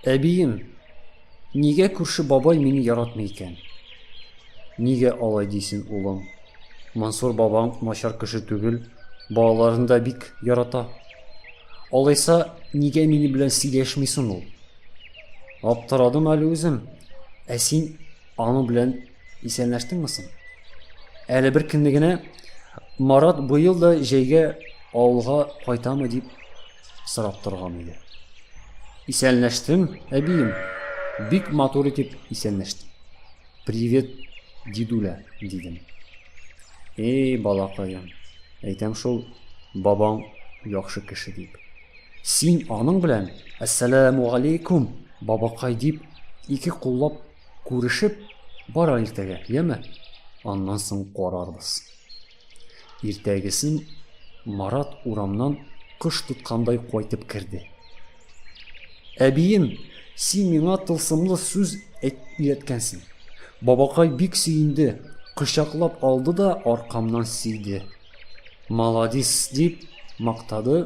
Әбием, нигә күрше бабай мине яратмый икән? Нигә алай дисен, улым? Мансур бабаң начар кеше түгел, балаларын да бик ярата. Алайса, нигә мине белән сөйләшмисең ул? Аптырадым әле үзем. Ә син Аның белән исәнләштеңме соң? Әле бер көнне генә Марат быел да җәйгә авылга кайтамы дип сорап торган иде. Исәнләштем, әбием. Бик матур итеп исәнләштем. Привет, дидүлә, дидем. Эй, балакаем, әйтәм шул, бабаң яхшы кеше дип. Син аның белән, Әссәләмүгаләйкүм, бабакай, дип, ике куллап күрешеп бара иртәгә, яме? Аннан соң карарбыз. Иртәгесен Марат урамнан кош тоткандай кайтып керде. Әбием, син миңа тылсымлы сүз өйрәткәнсең. Бабакай бик сөенде, кочаклап алды да аркамнан сөйде. Маладис, дип мактады,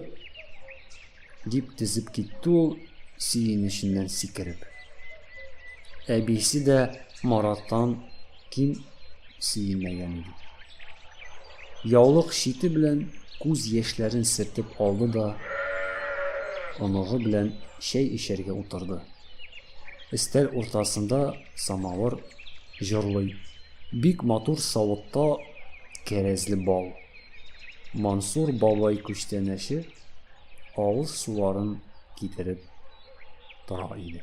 дип тезеп китте ул сөенеченнән сикереп. Әбисе дә Мараттан ким сөенмәгән иде. Яулык чите белән күз яшьләрен сертеп алды да оныгы белән чәй эчәргә утырды. Өстәл уртасында самавыр җырлый Бик матур савытта кәрәзле бал. Мансур бабай күчтәнәче авыз суларын китереп тора иде.